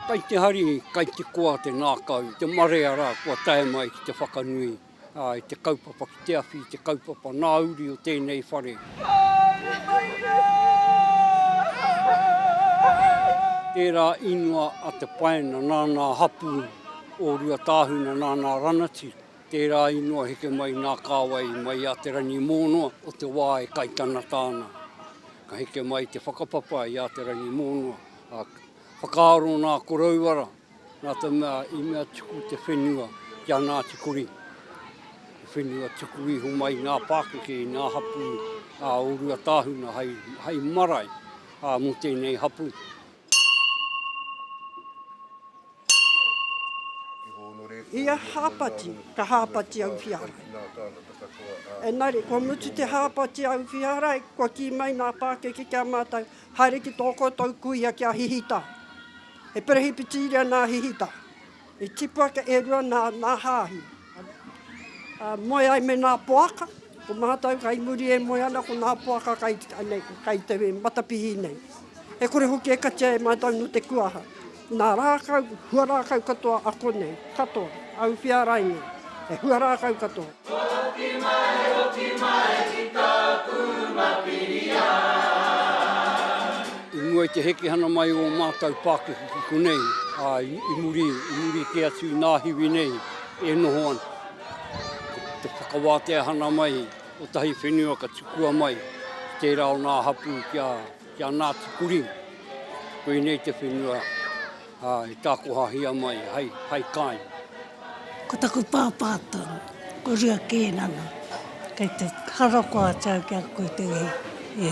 Kai te hari, kai te koa te ngākau, te marea rā kua tae mai ki te whakanui i te kaupapa ki te awhi, te kaupapa nā uri o tēnei whare. Haere mai rā! Tērā ingoa a Te Paina, nāna hapū o Ruatāhuna, nāna ranati. Tērā i noa heke mai nā kāwai mai a Te Rangimōnoa o te wā e kai tanata ana. Ka heke mai te whakapapa i a Te Rangimōnoa, ā, whakaaro nā Korouara nā te mea i mea tuku te whenua ki a Ngāti Kori. He whenua tuku iho mai i ngā pākeke, i ngā hapū a ō Ruatāhuna hai, hai marae ā, mō tēnei hapū. Ia hāpati, ka hāpati au whiarai. Engari, kua mutu te hāpati au whiarai, kua kī mai nā pākeke ki a mātou, haere ki tō koutou kuia ki a Hihita. He Perehipitiria nā Hihita. I tipu ake e rua nā, nā Hāhi. Moe ai me nā poaka, ko mātou kai muri e moe ana ko nā poaka kai nei, kai te matapihi nei. E kore hoki e katia e mātou no te kuaha, nā rākau, huarākau katoa a konei, katoa, a Uwhiarainga, he huarākau katoa. Oti mai, oti mai ki tāku Mapirian. I mua i te hekehana mai o mātou Pākehā ki konei, ā, i muri, i muri kē atu i nā hiwi nei. e noho ana. Ko te whakawāteahana mai o tahi whenua ka tukua mai ki tērā o nā hapū ki a, ki a Nāti Kuring. Koinei te whenua ā, e tākohahia mai hai, hai kāinga. Ko taku pāpā tonu, ko Rua Kēnana. Kei te hara koa atu au ki a koe te iwi.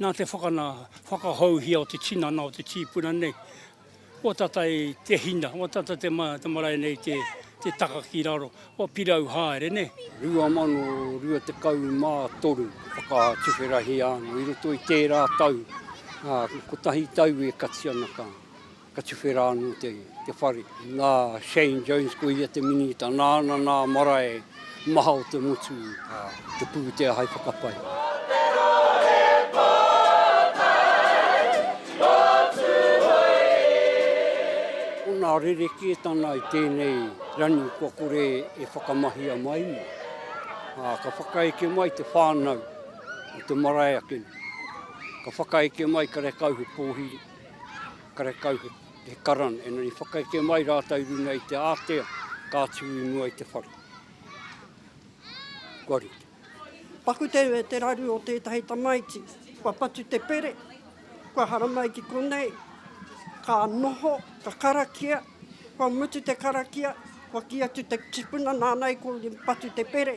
Nā te whakana whakahouhia o te tinana o te tīpuna nei, kua tata i te hina, kua tata te marae nei te taka ki raro, kua pirau haere, nē. 2023 whakatuwherahia ana i roto i tērā tau, kotahi tau e kati ana ka. Ka tuwhera anō te whare. Nā Shane Jones ko ia te minita, nāna nā marae maha o te motu, te pūtea hai whakapai. Ko nā rerekētana i tēnei ranu kua kore e whakamahia mai nei, ka whakaeke mai te whānau o te marae ake nei, ka whakaeke mai karekau he pōhiri. karekau he karana, engari i whakaeke mai rātou i runga i te ātea ka atu i mua i te whare. Kua rite. Paku te, te raru o tētahi tamaiti, kua patu te pere, kua hara mai ki konei, ka noho, ka karakia, kua mutu te karakia, kua kī atu te tipuna nāna i kōrero patu te pere,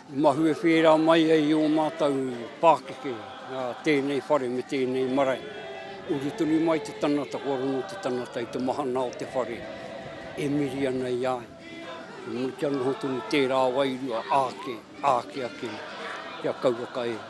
I mahue whērā mai ai i ō mātou pākeke a tēnei whare me tēnei marae. Uru tonu mai te tangata, kua rongo te tangata i te mahana o te whare e miri ana i a ia. Kia noho tonu tērā wairua āke, āke ake kia kauwaka e.